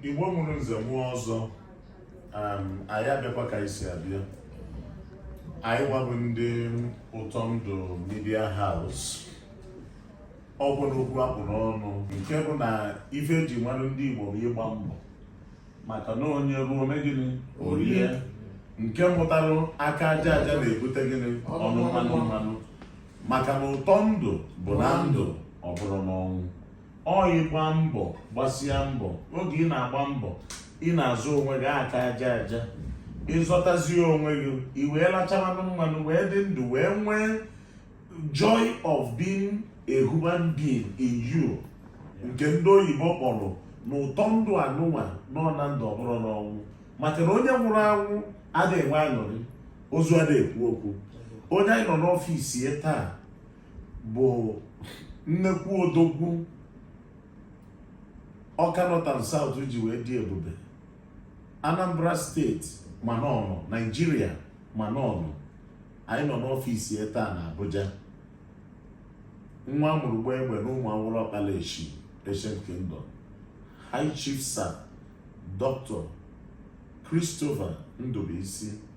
Igbo mụrụ nze mụọ ọzọ anyị abịakwa ka anyị si abịa anyịnwa bụ ndị ụtọ ndụ media house ọ bụ n'okwu a kpụ n'ọnụ nke bụ na ife eji marụ ndị Igbo bụ ịgba mbọ maka na onye rụọ o mee gịnị o rie nke mụtara aka aja aja na-ebute gịnị ọnụ mmanụ mmanụ maka na ụtọ ndụ bụ na ndụ ọ bụrọ n'ọnwụ ọ ịgba mbọ gbasia mbọ oge ị na-agba mbọ ị na-azụ onwe gị aka aja aja ị zọtazie onwe gị i wee lachaa mmanụ mmanụ wee dị ndụ wee nwee joy of being a human being in you nke ndị oyibo kpọrọ na ụtọ ndụ anụnwa nọ na ndụ ọ bụrọ n'ọnwụ maka na onye nwụrụ anwụ ada enwe aṅụrị ozu ada ekwu okwu onye anyị nọ n'ọfịs ya taa bụ nnekwu odogwu Ọka North and South ji wee dị ebube Anambra steeti ma n'ọnụ Naijiria ma n'ọnụ anyị nọ n'ọfịs ya taa na Abuja nwa a mụrụ gbaa egbe na Ụmụawụlụ Ọkpala Eshi Ancient Kingdom High Chief Sir Dr. Christopher Ndubuisi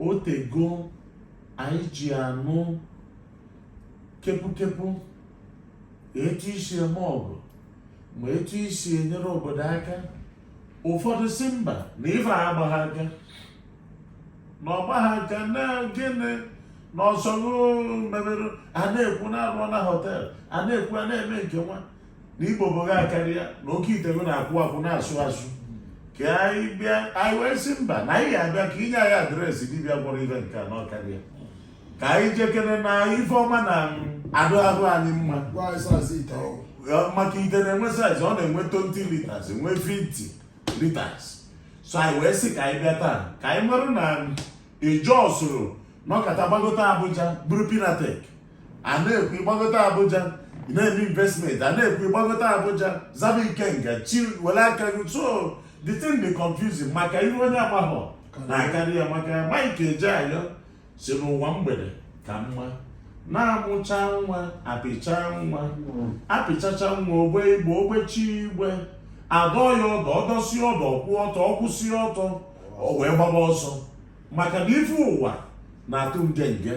o tego anyị ji anụ kepukepu etu i si eme ọgọ ma etu i si enyere obodo aka ụfọdụ sị mba na ife agbagha aka na ọ gbagha aka na gịnị na ọsọ mebere a na-ekwu na-arụ na hotel a na-ekwu a na-eme nke nwa na ibobo gị akarịa na oke ite gị na-akwụ akwụ na-asụ asụ ka anyị bịa anyị wee sị mba na anyị ga-abịa ka i nye anyị adreesị dibịa gwọrọ ite nke a na ọ karịa ka anyị jekere na ife ọma na-adị arụ anyị mma Gwa anyị size ite ahụ. Ọ- maka ite na-enwe size ọ na-enwe 20 litres enwe 50 litres so anyị wee sị ka anyị bịa taa ka anyị marụ na ijosụrụ nọkata gbagota abuja bụrụ Pinnatech a na-ekwu ị gbagota abuja na-eme investment a na-ekwu ị gbagota abuja zaba ikenga chi were aka gị so the thing be confusing maka ihe onye amaghọ na-akarị ya maka Mike Ejeagha sị n'ụwa mgbede ka mma na a mụchaa nwa a pịchaa nwa a pịchachaa nwa o gbee igbe o gbechaa igbe a dọ ya ọdụ ọ dọsịa ọdụ ọ kwụ ọtọ ọ kwụsịa ọtọ o wee gbaba ọsọ maka na ife ụwa na-atụ nge nge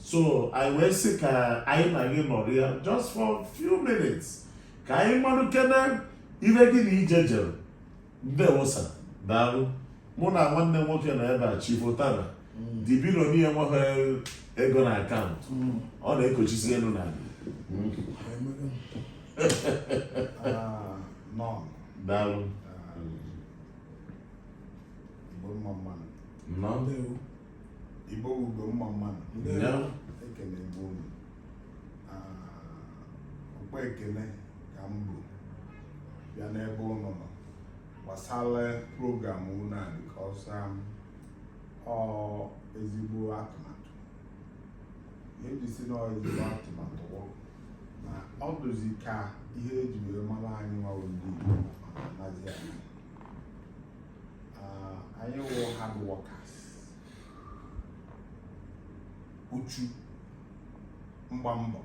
so anyị wee sị ka anyị na gị nọrịa just for few minutes ka anyị mmanụ kene ihe gị na ije jere ndewo sir daalụ mụ na nwanne nwoke na ebe chi bọtara mm. dibiro n'ihe nweghị ego na akaụntụ mm. ọ na-ekochisi elu na mm. ah, daalụ Igbo mma mmanụ. Nọ. Ndewo. Igbo bụ Igbo mma mmanụ. Ndewo. Ekele Igbo unu. Ọkwa ah, ekele ka m bu bịa n'ebe ụnụ nọ gbasara program unu a because um, ọ ezigbo atụmatụ. Ihe m ji sị na ezigbo atụmatụ na ọ dịzi ka ihe eji wee mara anyị nwa wụ ndị Igbo anazi anyị. ah, anyị wụ hard workers uchu mgba mbọ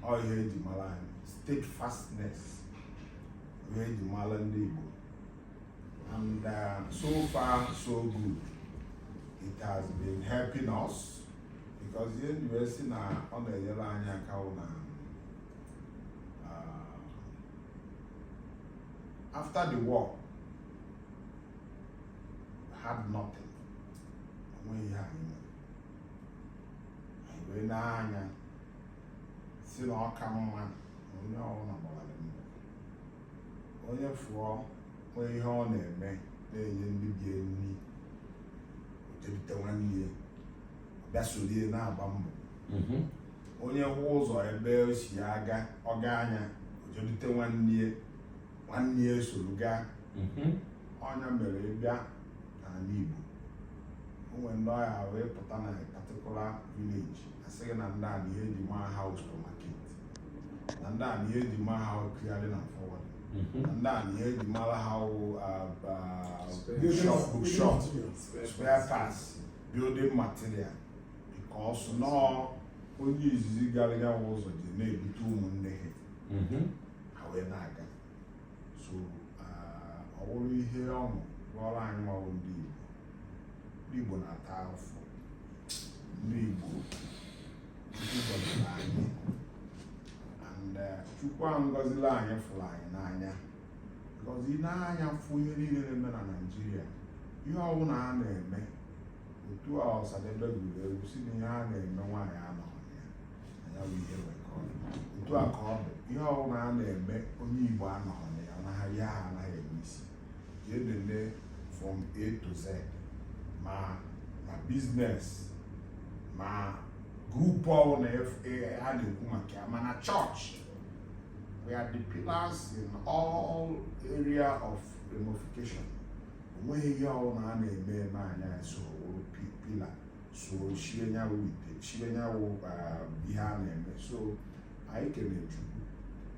ọ ihe eji mara anyị steadfastness ihe eji mara ndị Igbo and uh, so far so good it has been helping us because ihe m ji wee sị na ọ na-enyere anyị aka na um, after the war had nothing onweghị ihe anyị nwere anyị wee nee anya sị na ọ ka mma na onye ọbụla gbawara mbọ onye fụọ nwee ihe ọ na-eme na-enye ndị be ya nri o jee dute nwanne ya bịa soro ya na-agba mbọ onye hụ ụzọ ebe o si aga ọ gaa nya o jee dute nwanne nwanne ya esoro gaa mhm. ọ nya mere ị bịa n'ala Igbo o nwere ndị ọ ga-awụ ị pụta na particular village a sị gị na ndị a na ihe eji maa ha wụ supermarket na ndị a na ihe eji maa ha wụ clearing and forwarding mhm. na ndị a na ihe eji mara ha wụ bookshop spare parts building material because na ọ onye izizi gara ya waa ụzọ ji na-ebute ụmụnne ha mm-hmm. ha wee na-aga so ọ bụrụ ihe ọṅụ rụọrọ anyị nwa wụ ndị Igbo ndị Igbo na-ata afọ ndị Igbo gọziri anyị and Chukwu gọziri anyị fụrụ anyị n'anya gị nee anya fụ ihe niile na-eme na Naịjirịa ihe ọbụla a na-eme otu a ọsadebe gụrụ egwu sị na ihe a na-eme nwaanyị anọghị ya na ya bụ ihe wee ka ọ dị otu a ka ọ bụ ihe ọbụla a na-eme onye igbo anọghị na ya anaghị ya ha anaghị eme isi jee nene from a to z ma na business ma group ọbụla a na-ekwu maka ya ma na church we are the pillars in all area of ramification onweghị ihe ọbụla a na-eme eme anyị soworo pillar so chie nyawụ ite chie nyawụ um, ihe a na-eme so anyị kene chukwu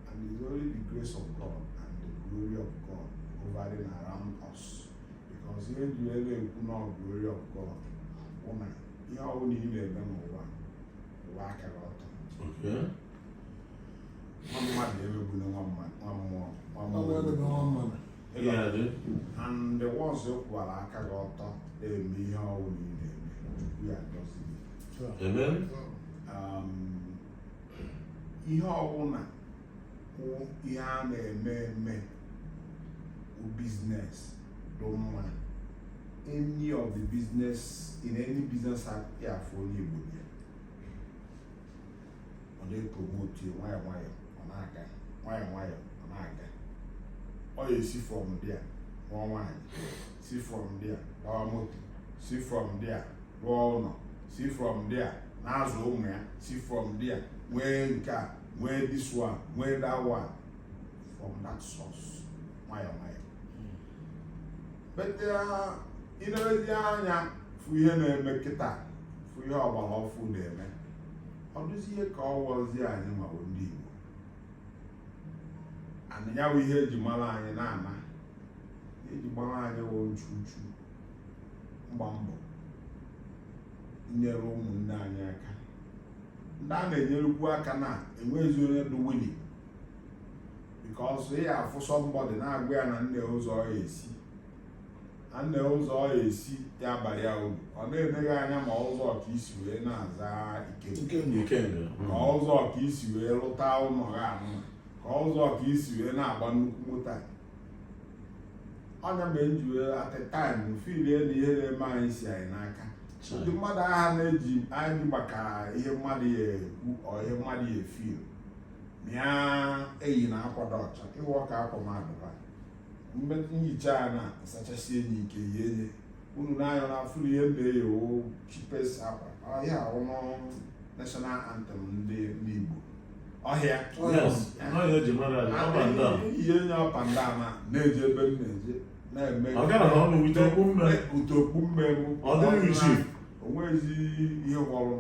and it's only the grace of God and the glory of God hovering around us because ihe dị elu ekwu na glory of God bụ na ihe ọbụla ị na-eme n'ụwa kwụwa aka gị ọtọ nwa mmadụ emegbula nwa mmụọ nwa mmụọ and once ị kwụwara aka gị ọtọ na-eme ihe ọwụna ị na-eme Chukwu ya-agọzi um, ihe ọbụla wụ ihe a na-eme eme business dị mma any of the business in any business ị ya-afụ onye Igbo ọ na-epromotu ya nwayọ nwayọ ọ na-aga nwayọ nwayọ ọ na-aga ọ ya-esi from there lụọ nwaanyị si from there gbawa moto si from there rụọ ụlọ si from there na-azụ ụmụ ya si from there nwee nke a nwee this one nwee that one from that source nwayọ nwayọ but i lezie anya fụ ihe na-eme kịta fụ ihe ọgbara ọfụụ na-eme ọ dụzie ka ọ wụzi anyị nwa wụ ndị Igbo na ya bụ ihe eji mara anyị na-ana eji mara anyị wụ nchu uchu mgba mbọ nnyere ụmụnne anyị aka ndị a na-enyerukwu aka na enweghịzi onye dị willing because ị ya-afụ somebody na-agwa ya na nee ụzọ ọ ya-esi na nee ụzọ ọ esi ya abara ya uru ọ na-ene gị anya ma ụzọ ka i si wee na-aza ike ma ụzọ ka i si wee lụta ụlọ gị anụ ka ụzọ ka i si wee na-agba nnukwu moto a ọ nya mere m ji wee at a time feel na ihe na-eme anyị si anyị n'aka ndị mmadụ agha na-eji anyị maka ihe mmadụ ya-ekwu or ihe mmadụ ya-efeel mịa eyi na akwado ọcha ịwa ọka akwa mmadụ nhicha a na-asachasị enyi nke ya enye unu na-anyọ na afụrụ ihe mbe ya chipes akwa ọhịa ọnụ national anthem ndị ndị Igbo ọhịa ihe nye ọpa ndị ama na-eji ebe m na-eje na-eme ụtọ okwu mmegbu onwezi ihe gwọrọ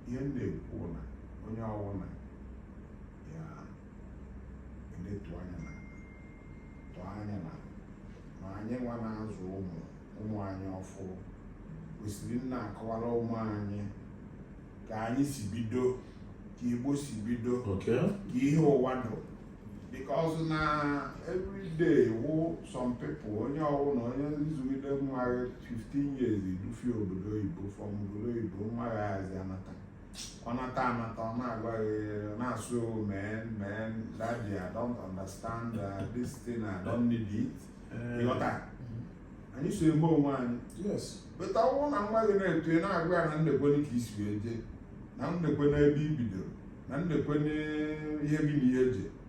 ihe m na-ekwu na onye ọwụna ya ndị tụọ anya na tụọ anya na ma anyị nwa na-azụ ụmụ ụmụ anyị ọfụ kwesịrị ịna-akọwara ụmụ anyị ka anyị si bido ka igbo si bido Okay. ka ihe ụwa dụ because na everyday wụ some people onye ọwụna onye ị zụgide nwa gị 15 years i dufie obodo oyibo from obodo oyibo nwa gị ayazị anata ọ nata anata ọ na-agwa gị ọ na-asụ men men daddy I don't understand uh, this thing I don't need it Eh, ị ghọta anyị so eme onwe anyị yes but ọ bụrụ na nwa gị na-eto ị na-agwa ya na nekwene ka e si wee jee na nekwene ebe i bidoro na nekwene ihe gị na ihe e ji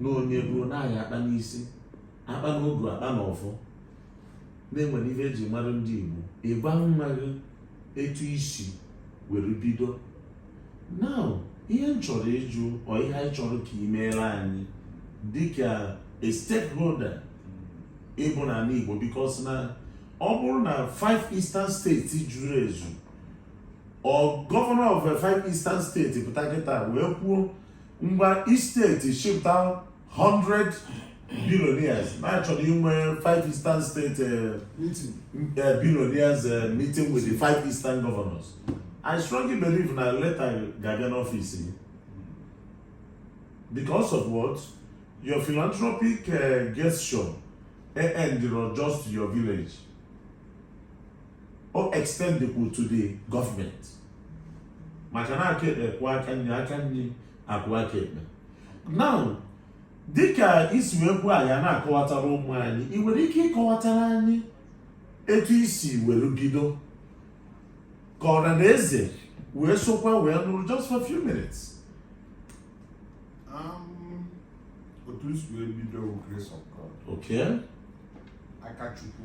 na onye ruo n'ahịa akpa n'isi akpa n'ogu akpa n'ọfọ na e nwere ihe e ji mara ndị Igbo ị gwa nwa gị etu i si were bido now ihe m chọrọ ịjụ or ihe anyị chọrọ ka ị meere anyị dịka a stakeholder ị bụ n'ala Igbo because na ọ bụrụ na five eastern states zuru ezu or governor of five eastern state pụta kịta wee kwuo ngwa state chịpụta 100 billionaires na a chọrọ inwe 5 eastern state eh, eh, billionaires eh, meeting with the 5 eastern governors i strongly believe na leta ga-abịa n'office gị because of what your philanthropic uh, gesture e endịrọ just your village o extendekwu to the government maka na aka ekpe kwọọ aka nri aka nri akwọọ aka ekpe now dịka i si wee kwuo anyị na-akọwatara ụmụ anyị ị nwere ike ịkọwatara anyị etu i si were bido ka ọra na eze wee sokwa wee nụrụ just for few minutes um, otu i si wee bido grace of God okay aka chukwu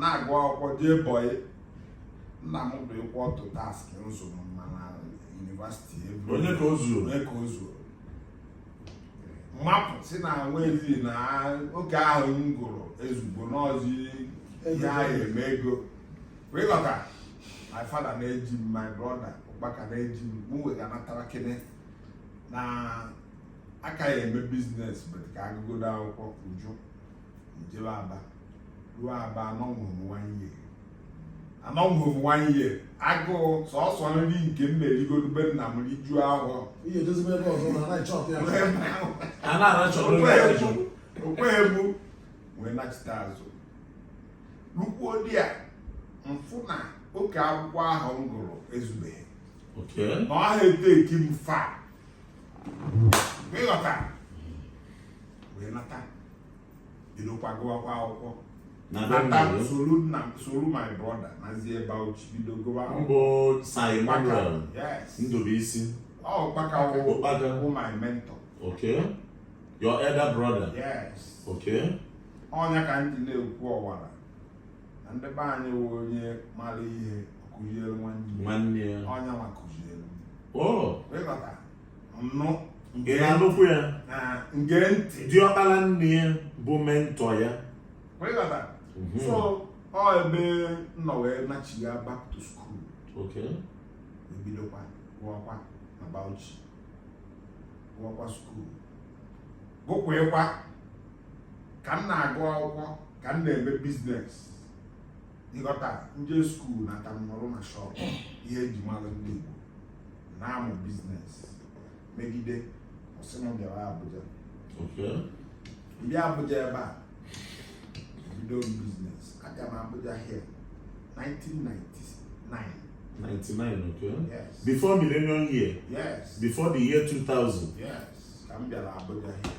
na-agụ akwụkwọ jee bọyị nna m bụ ịkwụ ọtụ tasking ịzụ mmadụ na yunivasiti ebe onye ka o zuo onye ka o zuo m apụ sị na nwezi na oke ahụ m gụrụ ezugo n'ọzi ihe ahụ eme ego wee ghọta my father na-eji m my brother Mbaka na-eji m mụ wee ga natara kene na aka ya eme biznes bet ka agụgodo akwụkwọ uju m jebe Aba ruo Aba anọnwughị m one year anọnwughị m one year agụụ sọsọ nri nke m na-erigodu be nna m rijuo afọ ihe edozibe ebe ọzọ na anaghị chọpụ ya a na-arachọ onye Okwe ọzọ. egbu okwe egbu wee nachite azụ lukwuo there m fụ na oke akwụkwọ ahụ m gụrụ ezubeghị oke na ọ ha eteki m far ịghọta wee nata bidokwa gụwakwa akwụkwọ nata soro nna soro my brother nazie Bauchi bido gụwa mbụ Sir Emmanuel Ndubuisi Mbaka Mbaka bụ my mentor okay your elder brother yes okay ọ nya ka m ji na-akọwara na ndị be anyị wụ onye mara ihe kụziere nwanne ya ọ nya ma kụziere m oh. ịghọta nnụ nke na nnukwu ya nke ntị diọkpara nne ya bụ mentọ ya mhm. so ọ ebe m nọ wee nachia back to school ebidokwa gụọkwa na Bauchi gụọkwa skuul gụkwekwa ka m na-agụ akwụkwọ ka m na-eme biznes ịghọta m jee skuul nata m nọrọ na shọp ihe eji mara ndị Igbo na-amụ biznes megide ọ sị m bịara Abuja m bịa Abuja ebe a bido biznes abịa m Abuja here 1999 99 okay yes. before millennium year yes before the year 2000 yes ka m bịara Abuja here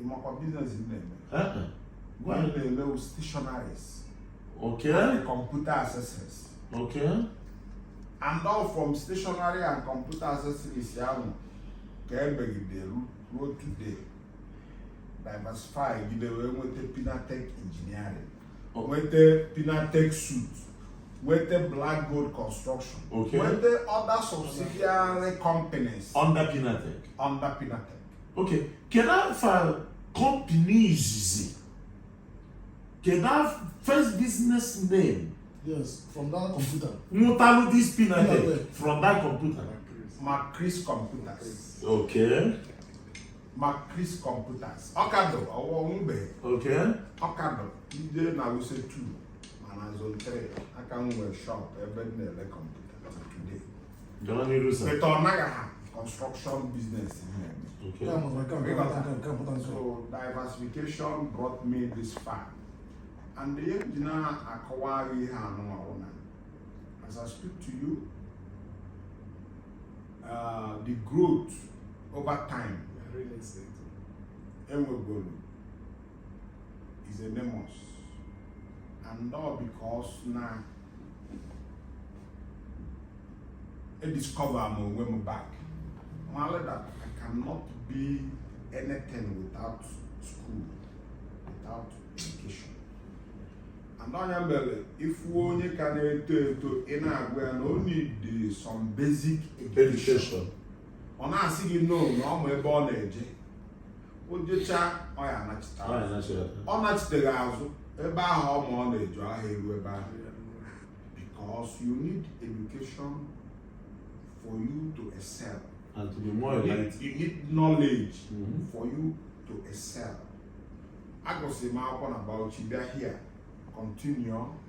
ịmakwa biznes na-eme gwa na-eme stationaries okay and computer accessories okay and all from stationary and computer accessories ahụ ka emegide ruo today diversify gide wee nweta pinatech engineering nweta pinatech suit with the Black Gold Construction, okay. with the other subsidiary companies under Pinatech. Under Pinatech. ok kedu afa kọmpini izizi kedu afa first business name yes from that computer nwetalụ this pin I did from that computer macris computers ok macris computers ọ ka dụ ọwụwa ọnwụbe ok ọ ka dụ ọ dị na Wuse 2 mana zone 3 ka m nwere shop ebe m na-ele kọmputa Gawa n'iru sir. But ọ naghị ha construction business ha eme. Okay. Ya mụtara nke a, nke a, nke a, nke a, pụta nke a. So diversification brought me this far. And ihe m ji na-akọwara gị ihe anụnwa bụ na as I speak to you, uh, the growth over time Real estate. enwegoro is enormous and all because na e discover m onwe m back mara that I cannot be anything without school without education and ọ ya mere ị fụ onye ka na-eto eto ị na-agwa ya na o need some basic education ọ na-asị gị no na ọ ma ebe ọ na-eje o jechaa ọ ya anachita Ọ ya anachita. ọ nachiteghị azụ ebe ahụ ọ ma ọ na-eje ahụ eru ebe ahụ because you need education for you to excel and to be more you need, enlightened. you need knowledge Mhm. for you to excel agụsịrị m akwụkwọ na Bauchi bịa here continue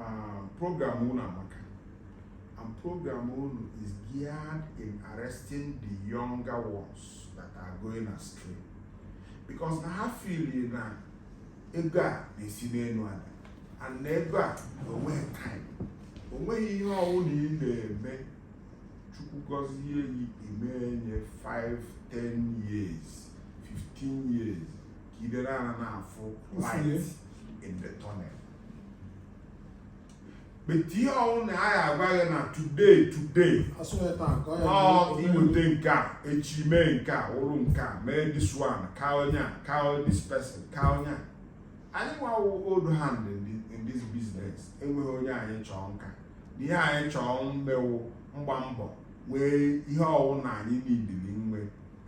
Ah, program unu amaka and program unu is geared in arresting the younger ones that are going astray because na ha feel na ego a na-esi n'elu ada and na ego a na onweghị time onweghị ihe ọwụna ị na-eme Chukwu gọzie gị ime enye 5 10 years 15 years ka ibe na-ana na-afụ light in the tunnel but ihe ọwụna a ya agwa gị na today today iweta nke a echi mee nke a wụrụ nke a mee this one ka onye a ka this person ka onye a anyị nwa wụ old hand in this business enweghị onye anyị chọọ nka ihe anyị chọọ mme wụ mgba mbọ nwee ihe ọwụna anyị needịrị nwe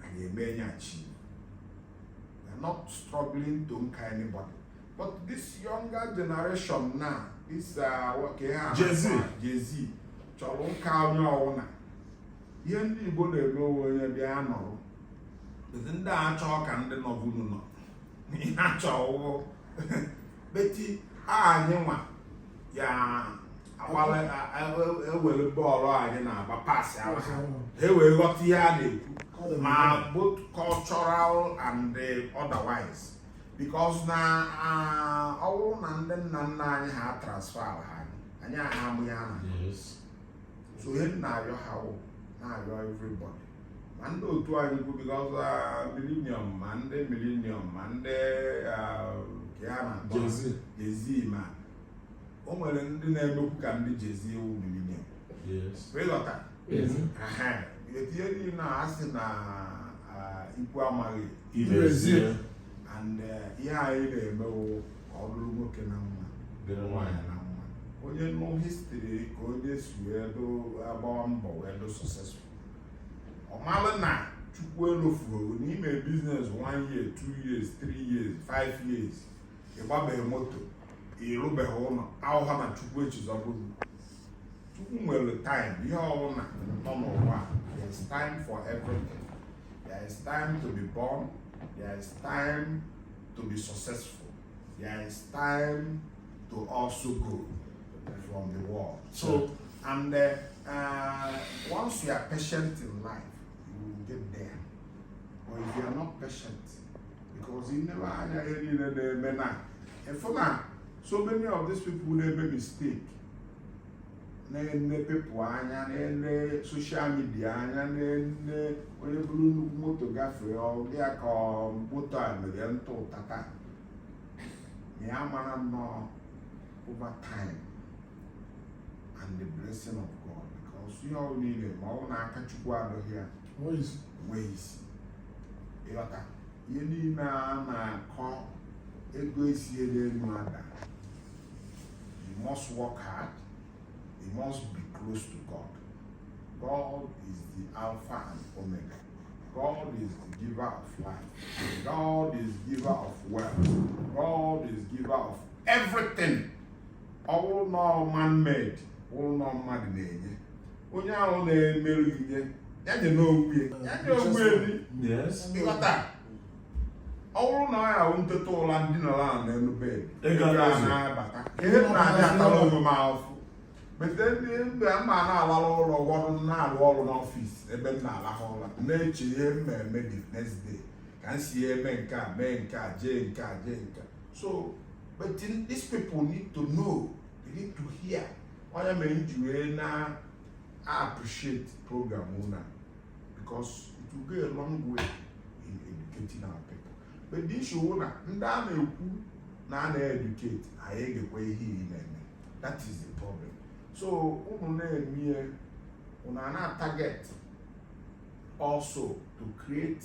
anyị emenyachi We're not struggling to nka anybody. But this younger generation now, this uh, what can I Gen Z. Gen Z, chọrọ nka onye ọwụna. Ihe ndị Igbo na-eme onwe onye bịa nọrọ sị ndị a chọọ ka ndị nọbunu nọ. Ha chọọ beti anyị nwa ya agbawa ewere bọọlụ anyị na-agba pasaara ha ewee ghọta ihe a na-ekwu ma both cultural and otherwise because na ọ bụrụ na ndị nna nna anyị ha transfer ha anyị aha amụ ya na so ihe m na-ayọ ha wụ na-ayọ everybody ma ndị otu anyị kwu because millennium ma ndị millennium ma ndị a na-akpọ Gen Z ma o nwere ndị na-emekwu ka ndị Gen Z wụ millennium ị ghọta etinye gị na asị na ikwu amaghị ibe ezi ya and eh, ihe anyị na-eme wụ ka ọ dịrị nwoke na mma dịrị nwaanyị na mma onye nụ history ka onye si wee agbawa mbọ wee dị successful ọ malụ na chukwu elofuru na i mee business 1 year 2 years 3 years 5 years ị gbabeghị moto ị rụbeghị ụlọ awụha na chukwu echizọbụrụ chukwu nwere time ihe ọbụla nọ n'ụwa there is time for everything there is time to be born there is time to be successful there is time to also go from the world so and uh, uh, once you are patient in life you will get there but if you are not patient because i neba anya ihe niile na-eme na ị fụ na so many of these people na-eme mistake na-ene people anya na-ene social media anya na-ene onye buru nnukwu moto gafee ọ dị ya ka moto a mere n'ụtụtụ taa ma ya amarọ na ọ over time and the blessing of God because ihe ọbụla ị na-eme ma ọ wụ na aka Chukwu adọghị ya weisi ịghọta ihe niile a na-akọ ego esiela elu ada you must work hard you must be close to God God is the Alpha and Omega God is the giver of life God is giver of wealth God is giver of everything ọ bụrụ na man-made ọ wụrụ na mmadụ na-enye onye ahụ na-emerụ ihe ya nye n'onwe ya nye onwe ị ghọta ọ bụrụ na ọ ya wụ m teta ụra m dinọrọ n'elu bed ego na-abata ihe na-adị atara onwe m ahụfụ bete ndị mgbe a ma na-alala ụlọ ọrụ na-arụ ọrụ n'office ebe m na-alahụ ụra na-eche ihe m eme the next day ka m si eme nke a mee nke a jee nke a jee nke a so but these people need to know they need to hear ọ ya mere m ji wee na appreciate program ụnụ a because it will go a long way in educating our people but the issue wụ na ndị a na-ekwu na a na-educate a ya-egekwa ihe ị na-eme that is the problem so ụnụ na-eme ihe ụnụ na target also to create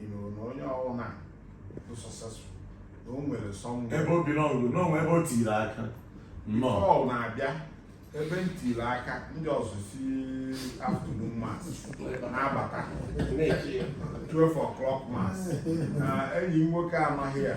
ị nụrụ na onye ọwụna bụ successful na o nwere somewhere ebe obi n'ọgụ na o nwe ebe o tiri aka nnọọ Paul na-abịa ebe m tiri aka ndị ọzọ si afternoon mass na-abata 12 o'clock mass na enyi m nwoke amaghị ya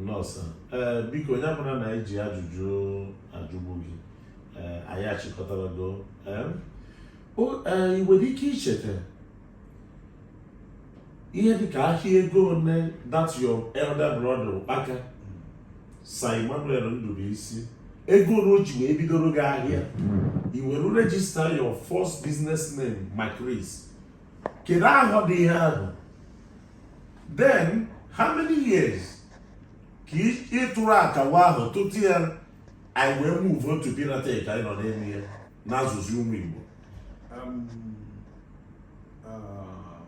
nnọọ sir ee eh, biko onye bụla na anyị ji ajụjụ ajụgbu gị ee eh, anyị achịkọtara go eh, ị nwere ike icheta ihe dịka ahịa ego one that your elder brother Ụkpaka Sir Emmanuel Ndubuisi ego one o ji wee bidoro gị ahịa i were register your first business name Macris kedu ahọ dị ihe ahụ then how many years ka ị tụrụ akawa ahụ tutu ya anyị wee move on to Pinatech anyị nọ n'elu ya na-azụzi ụmụ Igbo um, uh,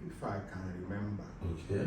if I can remember okay.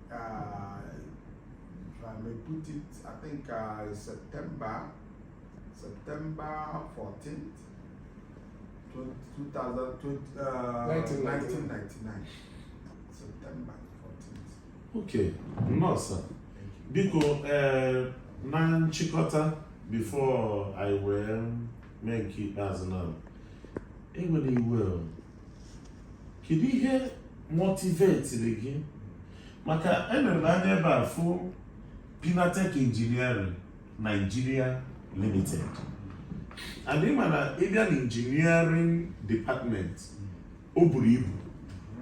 Uh, if I may put it, I think uh, September, September 14th, 2000, uh, 1999. September 14th. Okay, no, sir. Biko, uh, na nchịkọta before ị were mee nke ikpeazụ na ewena iwe kedu ihe motivetiri gị maka enere m anya ebe a fụ Pinatech Engineering Nigeria Limited and ị ma na ị bịa na engineering department o buru ibu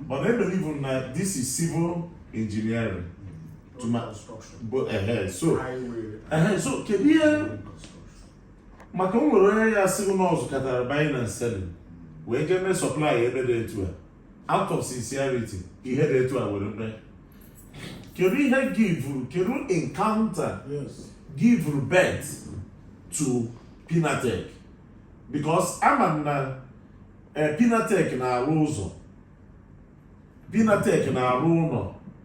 but I believe na this is civil engineering to my, but, uh, so, uh, so kedu ihe maka o nwere onye ya-asị na ọ zụkatara buying and selling wee jee mee supply ebe dị etu a out of sincerity ihe dị etu a were mee kedu ihe givuru kedu encounter givuru birth to Pinatech because ama m na eh, Pinatech na-arụ ụzọ Pinatech na-arụ ụlọ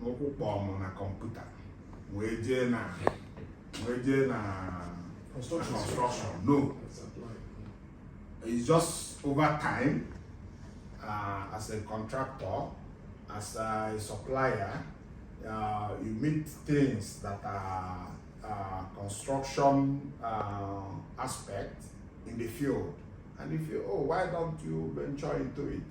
n'ụkwụ kpọọ m na computer wee jee na wee jee na construction no it's just over time uh, as a contractor as a supplier uh, you meet things that are uh, construction uh, aspect in the field and you feel oh why don't you venture into it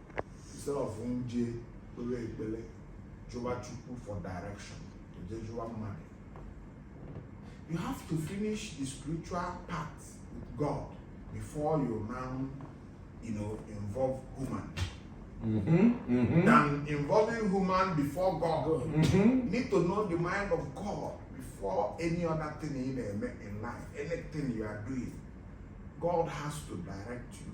instead of nje kpere ekpere jụwa chukwu for direction oje jụwa mmadụ you have to finish the spiritual part with god before you now you know involve human Mm-hmm, mm-hmm. than involving human before God. Mm-hmm. Need to know the mind of God before any other thing in, in life, anything you are doing. God has to direct you.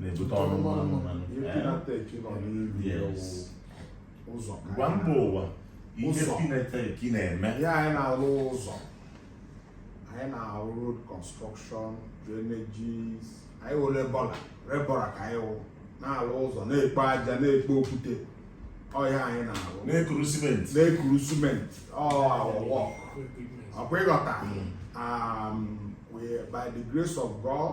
na-ebute ọnụ mmanụ mmanụ gwa mba ụwa ihe Pinatech na-eme ya anyị na-arụ ụzọ anyị na-arụ road construction drainages anyị wụ labourer labourer ka anyị wụ na-arụ ụzọ na-ekpo aja na-ekpo okwute ọ ya anyị na-arụ na-ekuru simenti na-ekuru simenti ọwọwọ ọ kwa ị ghọta um, by the grace of God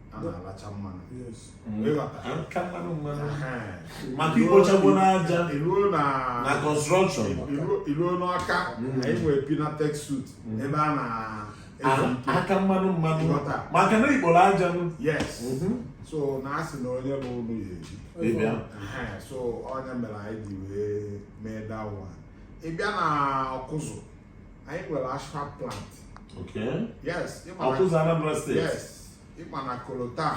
a na-alacha mmanụ maka ikpochapụ n'aja na construction i ruo n'Ọka na enwe Pinatech Suite ebe a na aka mmanụ mmanụ maka na ikporo aja so na a sị na onye rụọ ụlọ ya ebi so ọ nya mere anyị ji wee mee dawa ị bịa na Ọkụzụ anyị nwere asphalt plant yes ị ma na kolota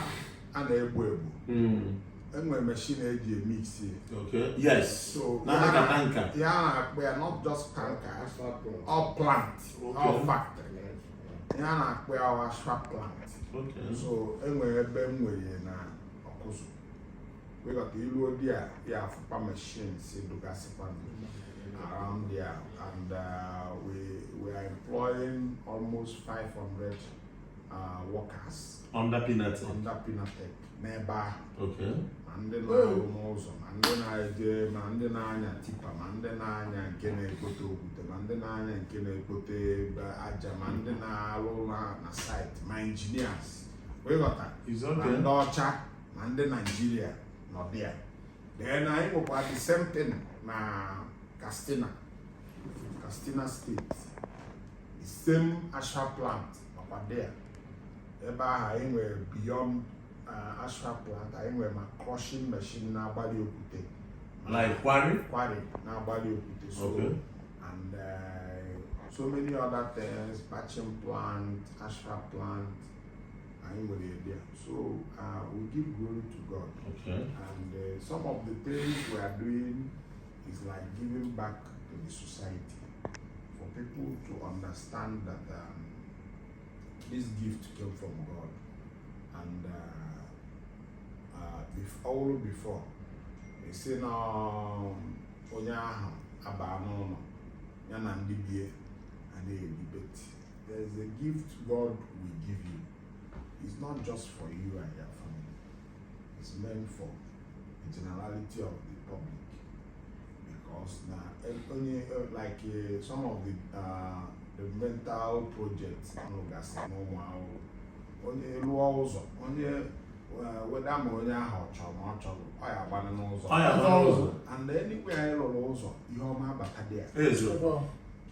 a na-egbu egbu hmm. e nwere machine e ji emixi ya a na-akpọ ya not just tanka ọ plant ọ factory ya na-akpọ ya asphalt plant so e nwere ebe m nwere na Ọkụzụ ị ghọta i luo there ị ya-afụkwa machines dụgasịkwa around there and uh, we, we are employing almost 500 uh, workers under Pinnatech under Pinnatech n'ebe ahụ okay. ma ndị na-arụ n'ụzọ ma ndị na-eje ma ndị na-anya tipa ma ndị na-anya nke na-egote okwute ma ndị na-anya nke na-egote aja ma ndị na-arụ na na site ma engineers ị ghọta na ndị ọcha na ndị Nigeria nọ there then anyị nwekwa the same thing na Katsina Katsina State the same asphalt plant nọkwa there ebe ahụ anyị nwere beyond uh, asphalt plant anyị nwere ma crushing machine na-agbali okwute like quarry quarry na-agbali okwute so okay. and uh, so many other things batching plant asphalt plant anyị nwere there so uh, we give glory to God okay. and uh, some of the things we are doing is like giving back to the society for people to understand that um, this gift came from God and uh, uh, before, all before they say na um, onye ahụ abaa n'ụlọ ya na ndị be ya na-eribeti There is a gift God will give you. It's not just for you and your family. It's meant for the generality of the public. Because na onye uh, like uh, some of the uh, developmental projects nọgasị n'Ụmụawụlụ. Onye lụọ ụzọ onye whether ma onye ahụ ọ chọrọ ma ọ chọrọ ọ ya-agbanụ n'ụzọ and anywhere anyị lụrụ ụzọ ihe ọma abata there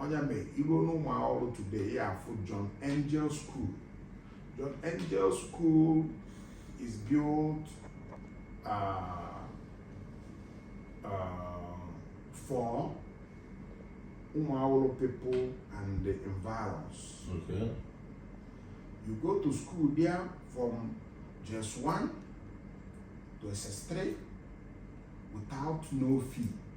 ọ ya mee i ruo n'Ụmụawụlụ today ị ya-afụ John Angel School John Angel School is built uh, uh, for Ụmụawụlụ people and the environs okay. you go to school there from JS1 to SS3 without no fee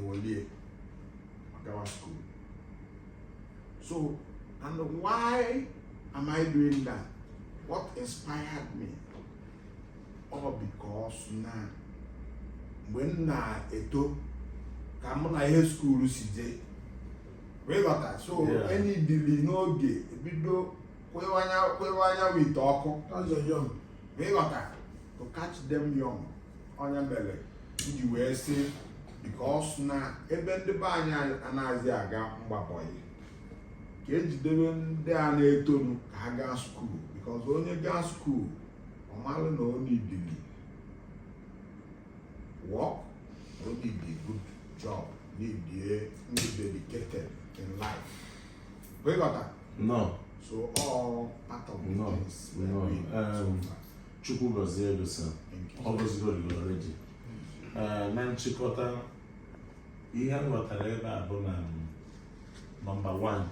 ewelie gawa school so and why am I doing that what inspired me ọ because na mgbe m na-eto ka mụ na ihe skuulu si jee ị ghọta so e nidili n'oge ebido kwewanya wit ọkụ ị ghọta to catch them young ọ ya mere m ji wee sị bikos na ebe ndị be anyị anaghịzi aga ịgba boy ka e jidebe ndị a na-etonu ka ha gaa skuul bikos onye gaa skuul ọ malụ na ọ nidili work ọ nidi good job nidie ịdị dedicated in life ị ghọtanụ so ọ part of the no, things no. Um, so far. chukwu gọzie gị sa ọ gọzigoro gị already na nchịkọta ihe m ghọtara ebe a bụ na nọmba 1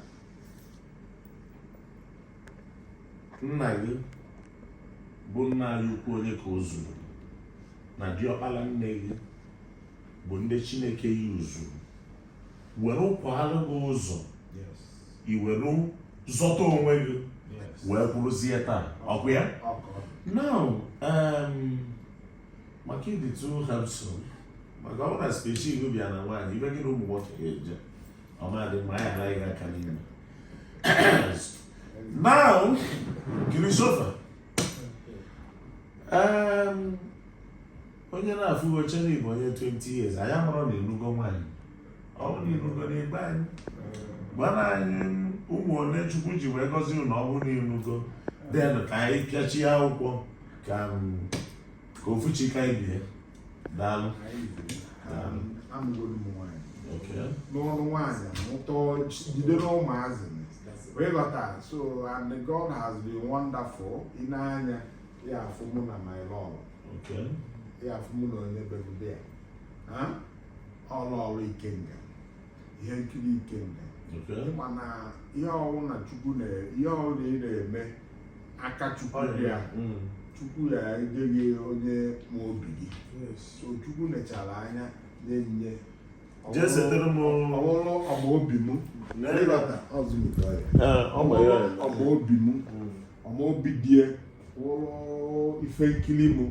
nna gị bụ nna anyị ukwu onyekaozuru na diọkpala nne gị bụ ndị chineke yuzuru were kwaara gị ụzọ i were zọta onwe gị wee kwụrụzie taa ọkwa ya now um, maka ịdịtụ ha nso maka ọ na especially ị bịa na nwaanyị ibe gị na ụmụ nwoke ga-eje ọ ma-adị mma ya anaghị aka n'ime now kiri sofa um, onye na-afụ gị echee na ị bụ onye 20 years anyị amarọ na ị lụgo nwaanyị ọ bụ na ị lụgo ị gwa anyị gwanụ anyị ụmụ ole chukwu ji wee gọzie unu ọ bụrụ na ị lụgo then ka anyị pịachie akwụkwọ ka ka ofuchi ka anyị bie daalụ n'ọnụ nwaanyị mụta jide n'ụmụazị wee ghọta so and God has been wonderful ị na-anya ya afụ mụ na my love ya afụ mụ na onye begobe ya ọrụ ọrụ ikenga ihe nkiri ikenga mana ihe ọwụna chukwu ihe ọwụna ị na-eme aka chukwu ya mm. chukwu ya-enye gị onye ma obi gị so chukwu nechara anya na-enye jee setere m ọwụrụ ọ ma obi m ọ ma obi m mm. ọ ma obi die wụrụ ife nkiri mụ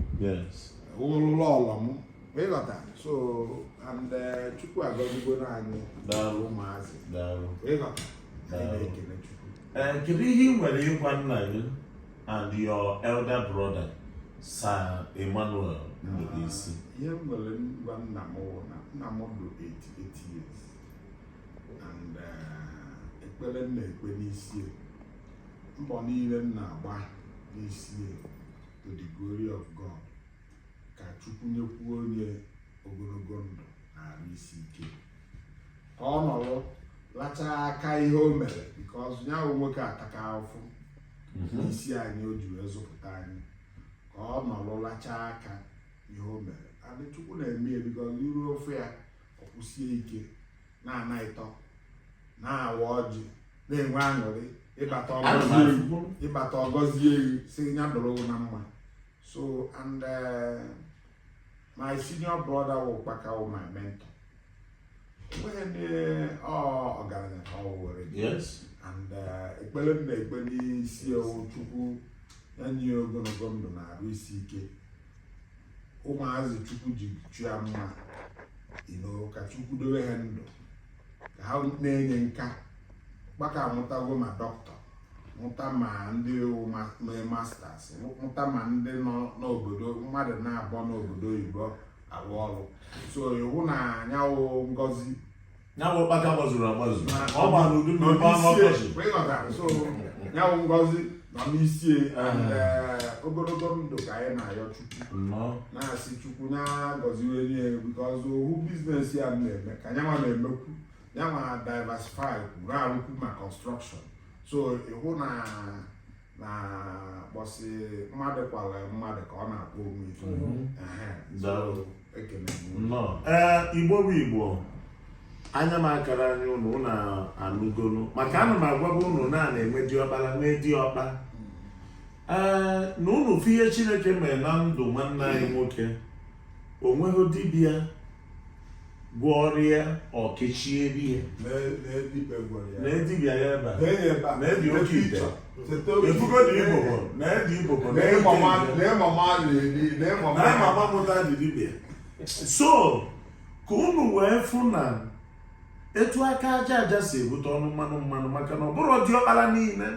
wụrụ lọọlọ mụ ịghọta so and eh, chukwu agọzigo anyị ụmụazị ịghọta anyị na-ekele chukwu eh, kedu ihe ị nwere ịgwa nna gị and your elder brother Sir Emmanuel Ndubuisi ah, ihe m nwere ịgwa nna m wụ na nna m dị 88 years and eh, ekpere m na-ekpe n'isie mbọ niile m na-agba n'isie to the glory of God ka Chukwu nyekwuo nye ogologo ndụ na arụ isi ike ka ọ nọrọ lachaa aka ihe o mere because nya wụ nwoke ataka ahụfụ n'isi anyị o ji wee zụpụta anyị ka ọ nọrọ lachaa aka ihe o mere and chukwu na-eme ya because iru ofe ya ọ kwụsie ike na-ana ịtọ na-awa ọjị na-enwe aṅụrị ị bata ọ gọzie wụ sị ya dụrụ na mma so and eh, my senior brother wụ ụkpaka wụ my mentor o nweghị ndị ọgaranya ka ọ wụrụ and eh, ekpere m na-ekpe n'isie wụ chukwu ya nye ogologo ndụ na arụ isi ike ụmụazị chukwu ji chọọ ya mma ịnọ ka chukwu dowe ha ndụ ka ha na-enye aka ụkpaka amụtago ma doctor mụta ma ndị mee masters mụta ma ndị nọ n'obodo mmadụ naabọ n'obodo oyibo arụ ọrụ so ị hụ na nya wụ ngozi ya bụ ụkpaka gbazuru agbazu ọ gba n'udu mmiri gbaa n'ọkọchị so ya wụ ngozi nọ n'isi e, and ogologo ndụ ka anyị na-ayọ chukwu na-asị chukwu na-agọziwe nye because ohu business ya na-eme ka nyanwa na-emekwu nyanwa diversify na-arụkwu ma construction so ị hụ na na kpọsị mmadụ kwara mmadụ ka ọ na-akpọ onwe ife mhm. Daalụ. ekele m unu. nnọọ ee igbo bụ igbo anya m akara anya unu unu anụgonụ maka ana m agwaba unu na a na-enwe diọkpara nwee diọkpa ee na unu fụ ihe chineke mere na ndụ nwanne anyị nwoke o nweghị dibịa gwọọrọ ya ọkechie ihe na edibịa ya ebe a na edi oke ite efugo na ibobo na edi ibobo na ịmama mụta dị dibịa so ka unu wee fụ na etu aka aja aja si ebute ọnụ mmanụ mmanụ maka na ọ bụrụ diọkpara niile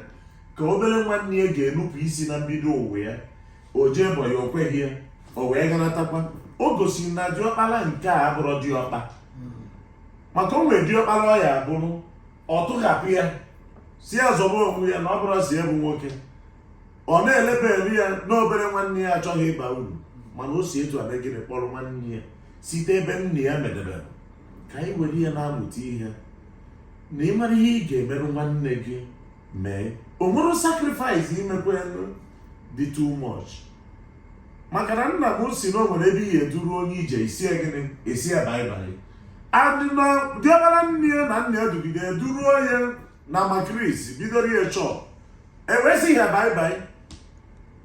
ka obere nwanne ya ga-enupụ isi na mbido ụwa ya o jee bọ ya o kweghị ya o wee ganatakwa o gosiri na diọkpara nke a abụrụ diọkpa maka o nwere diọkpara ọ ya abụrụ ọ tụghapụ ya si ya zọba onwe ya na ọ bụrụ si ya bụ nwoke ọ na-eleba elu ya n'obere nwanne ya achọghị ịba uru mana o si etu abegịrị kpọrọ nwanne ya site ebe nna ya medebere ka anyị were ya na-amụta ihe na ịmara ihe ị ga-emere nwanne gị mee o nwere sacrifice imekwa dị too much maka na nna m si na o nwere ebe i ya eduru onye ije i si ya gịnị i si ya baị baị and na diọkpara nne ya na nna ya dugide duru onye na makris bidoro ya shop e wee si ya baị baị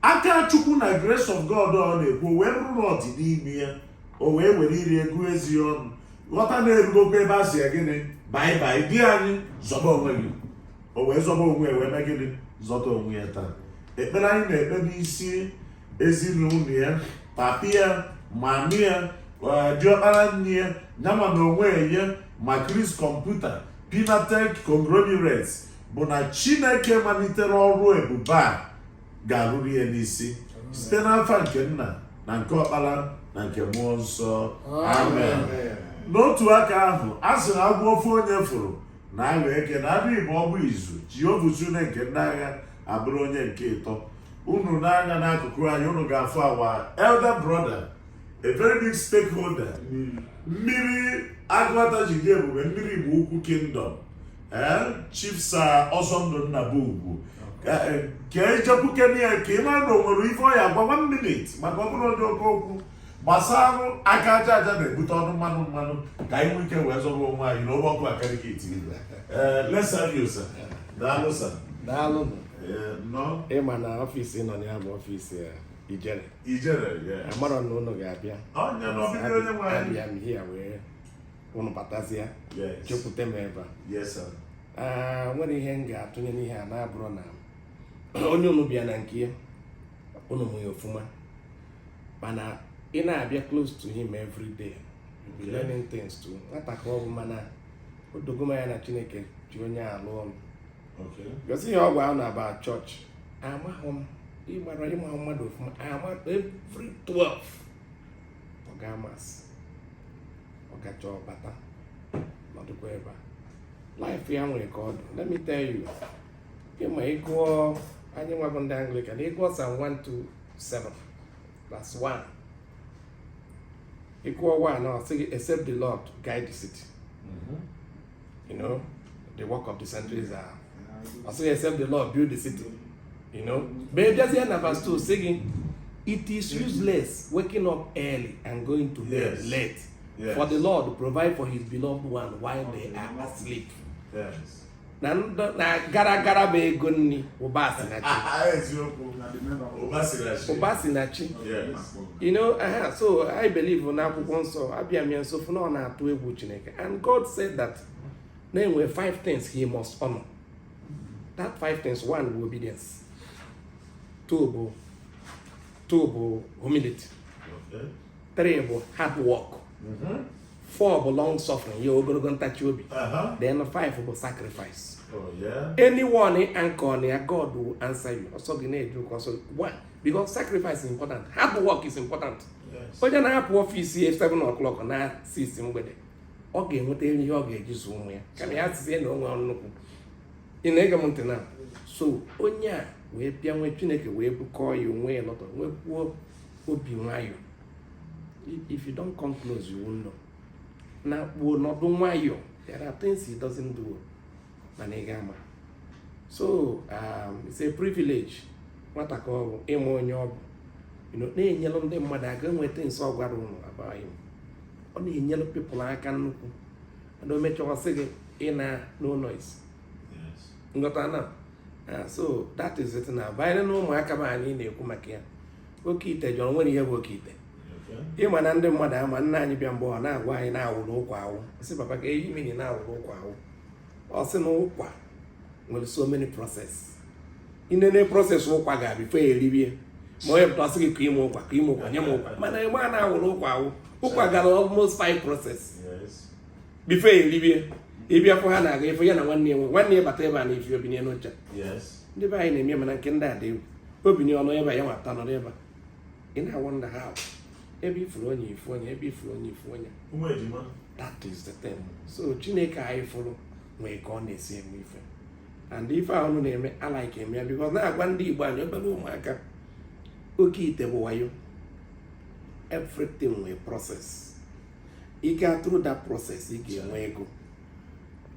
aka chukwu na grace of god ọ na-ekwu o wee bụrụ na ọ dị n'ime ya o wee were ire gụọ eze ọnụ ghọta na erugokwa ebe a si ya gịnị baị baị di anyị zọba onwe gị o wee zọba onwe ya wee mee gịnị zọta onwe ya taa ekpere anyị na-ekpe n'isi ezinụlọ ya papi ya mami ya eh, diọkpara nne ya nyama na onwe ya makris kọmputa pinatek conglomerates bụ na chineke malitere ọrụ ebube a ga-arụru ya n'isi site n'afa nke nna na nke ọkpara na nke mmụọ nsọ amen n'otu aka ahụ a sị na agwọ ofu onye fụrụ na-aghọ eke na a bịa ịbụọ ọ bụ izu jehova usuu nile nke ndị agha abụrụ onye nke ịtọ unu nee anya n'akụkụ anyị unu ga-afụ our elder brother a very big stakeholder mmiri agụata ji dị ebube mmiri igbo ukwu kingdom chief sir ọsọndụ nnabugwu ka e jekwukene ya ka ị mara na o nwere ife ọ ya agwa one minute maka ọ bụrọ onye oke okwu gbasarụ aka aja aja na-ebute ọnụ mmanụ mmanụ ka anyị nwee ike wee zọrọ onwe anyị n'obe ọkụ akarịka etiri let's have you sir daalụ sir daalụ nụ ịma na ọfịs nọ na ya bụ ọfịs ya ijere ijere amarọ na unu ga-abịa onye na ọbịbịa onye nwe anyị abịa m here wee unu batazie jekwute m ebe a nwere ihe m ga-atụnye n'ihe a na-abụrụ na onye unu bịa na nke ya unu ma ya ofuma mana ị na-abịa close to him every day be learning things too nwata ka ọ bụ mana o dogo m anya na chineke ji onye a alụ ọrụ gosi ihe ọgwụ ahụ na-aba chọọchị amaghị m ịgbara ịma mmadụ ofuma ama every 12 ọ ga-ama sị ọ gachaa ọ bata nọdụkwa ebe a life ya nwere ka ọ dị let me tell you ị ma ị gụọ anyị nwa bụ ndị anglikan ị gụọ psalm 127 verse 1 ị gụọ 1 ọ sị gị except the lord guide the city mm-hmm. you know the work of the sentries are also except the Lord build the city you know but ị bịazie na verse 2 sị gị it is useless waking up early and going to bed yes. late yes. for the Lord provide for his beloved one while they are asleep yes. na na gara gara bụ ego nri ụba si na chi ụba si na chi you know uh -huh. so I believe na akwụkwọ nsọ abịa m ya nso fụ na ọ na-atụ egwu Chineke And God said that na enwe five things he must honor. That five things, one bụ obedience, two bụ two bụ humility, three bụ hard work, mm-hmm. four bụ long suffering, ya ogologo ntachi obi, uh-huh. then five bụ sacrifice. Oh, yeah. Anyone in anchor near God will answer you. Also, the name you also one because sacrifice is important. Hard work is important. onye na-apụ ọfịs ya 7 o'clock naa 6 mgbede ọ ga-enweta ihe ọ ga-eji zụọ ụmụ ya kama ya sizie na o nwe nnukwu ị na-ege m ntị na so onye a wee bịa nwee chineke wee bukọọ ya o nwee a lot nweekwuo obi nwayọọ if you don't come close you won't know na kpuo nọdụ nwayọọ there are things he doesn't do mana ị ga-ama so um, it's a privilege nwata ka ọ bụ ịma onye ọ bụ na-enyelụ ndị mmadụ aka nweta nso ọ gwara ụnụ abaghị m ọ na-enyelụ people aka nnukwu mana o mechaa sị gị ị na no noise ị ghọtana ah, so that is it na banyere na ụmụaka m anyị na-ekwu maka ya oke ite jọrọ nwere ihe bụ oke ite ị ma na ndị mmadụ ama nna anyị bịa mgbe ọ na-agwa anyị na a wụrụ ụkwa awụ sị papa kee ihe ị mean na a wụrụ ụkwa awụ ọ sị na ụkwa nwere so many process i nene process ụkwa gara before ya eribie ma onye pụta sị gị kanye m ụkwa kanye m ụkwa nye m ụkwa mana ebe a na a wụrụ ụkwa awụ ụkwa gara almost five process before ya eribie ị bịa fụ ha na-aga ife ya na nwanne ya nwe nwanne ya bata ebe a na-efi obinye n'ụcha ndị be anyị na-eme mana nke ndị a dị egwu obinye ọnụ ebe a ya nwata nọrọ ebe a ị na-awụ ndị ha ebe ị fụrụ onye ị fụ onye ebe ị fụrụ onye ị fụ onye that is the thing so chineke anyị fụrụ nwee ka ọ na-esi eme ife and ife a ụnụ na-eme a like m ya because na-agwa ndị igbo anyị obere ụmụaka oke ite bụ wayo everything nwee process ị ga through that process ị ga-enwe ego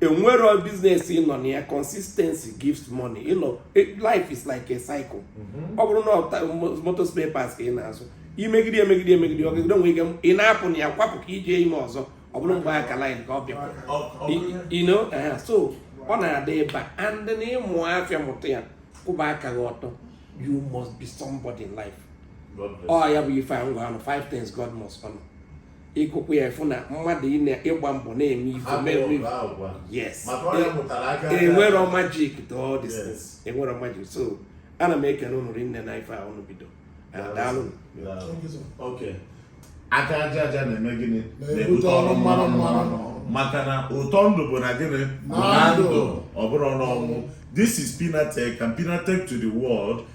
enwero business ị nọ na ya consistency gives money you know e, life is like a cycle mhm. ọ bụrụ na motor spare parts ka ị na-azụ i megide emegide emegide ọ gagide o nwee ike ị na-apụ na ya kwapụ ka i je ime ọzọ ọ bụrụ mgbe a ka line ka ọ bịa so ọ na-adaba and na ị mụ afịa mụta ya kwụba aka gị ọtọ you must be somebody in life ọ ya bụ ife m gwa ụnụ five things God must honor ị gụkwa ya ị fụ na mmadụ ịgba mbọ na-eme ife mere yes enwero e magic to all these things enwero magic so ana m ekele ụnụ rinne na ife a ụnụ bido and daalụnụ aka aja aja na-eme gịnị na-ebute ọnụ mmanụ mmanụ maka na ụtọ ndụ bụ na gịnị na ndụ ọ bụrọ n'ọnwụ this is Pinatech and Pinatech to the world